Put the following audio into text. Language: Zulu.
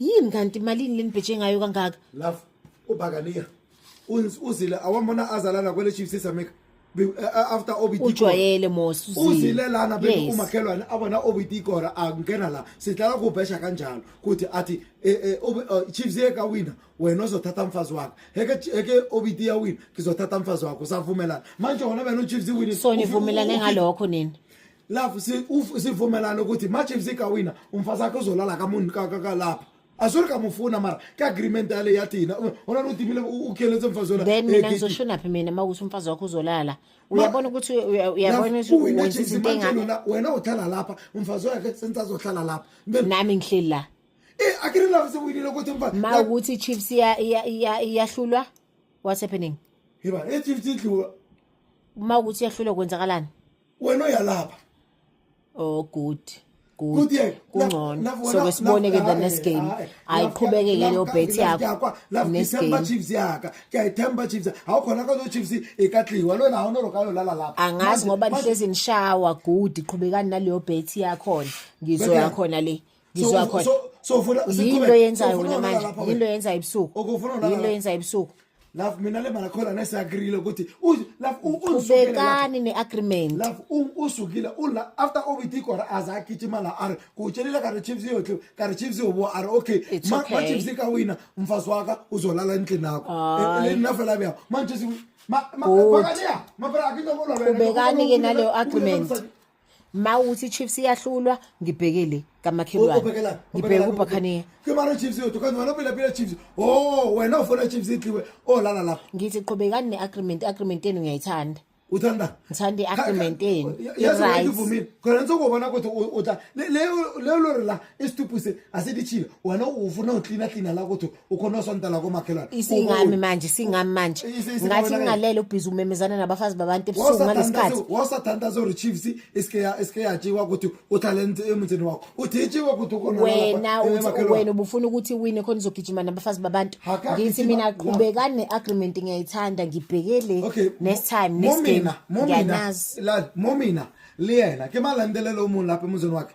yini kanti imalini lenibheje ngayo kangaka love ubakaniya uzile awambona azalana kwele chiefs esameka eh, eh, after obit ujwayele mos uzile lana bese umakhelwane abona obit ikora angena la sihlala kubhesha kanjalo kuthi athi eh, chiefs yeka wina wena uzothatha mfazi wakho heke heke obit ya wina ngizothatha mfazi wakho savumelana manje wona beno chiefs wini so nivumelane ngalokho nini love sivumelana ukuthi machiefs ikawina umfazi akhe uzolala kamuntu kakalapha asuri kamufuna mara ke agreement yale yathi yina ona notimile ukheletse mfazi wena then mina ngizoshonaphi mina uma ukuthi umfazi wakho uzolala uyabona ukuthi uyabona ukuthi izinto engani wena uhlala lapha umfazi wakhe senza azohlala lapha nami ngihleli la eh akiri love sewinile ukuthi mfazi ma ukuthi chiefs iya iya iyahlulwa what's happening yeba echiefs idliwa uma ukuthi iyahlulwa kwenzakalani wena uyalapha oh good good kungcono soke sibone ke the next game ayiqhubeke ke leyo bet yakho next game chiefs yaka kuyayithemba chiefs awukhona kazo chiefs ikatliwa lona awuno lokalo lala lapha angazi ngoba nihlezi nishawa good qhubekani naleyo bet yakho ngizoya khona le ngizwa khona so ufuna yinto yenzayo wena manje yinto yenzayo ebusuku yinto yenzayo ebusuku love mina le mali khona nesiagreele ukuthi love ubekani ne-agreement love usukile ula after obiti kora aze agijima la are kutshelela kare chiefs yotle kare chiefs yobo are okay machiefs ka wina mfazi waka uzolala endlini yakho e, e, nafela beya manje makaniya mabra akitokolwa ubekani ke naleyo agreement ma uthi chiefs iyahlulwa ngibheke le kamakhelwane ngibheke ubhakhaniya kwimara chiefs yodwa kanti wena uphilapila chiefs o oh, wena ufuna chiefs idliwe olala oh, lapho ngithi qhubekani ne-agreement i-agreement yenu ngiyayithanda uthanda ngithanda i-agreement yenu ivumile khona nisokubona ukuthi uta leyo lori la isitupuse asilitshile wena ufuna uklina klina la ukuthi ukhona osonta la komakhelwane isingami manje singami manje ngathi ngingalele ubhizi umemezana nabafazi babantu ebusuku ngalesikhathi wasathanda zo rechiefs isikeya isikeya jiwa ukuthi utalent emthini wakho uthi jiwa ukuthi ukhona wena uthi wena ubufuna ukuthi wine khona izogijima nabafazi babantu ngithi mina qhubekane agreement ngiyayithanda ngibhekele next time next game ngiyanazi momina liyena ke malandelelo umuntu lapha emuzini wakhe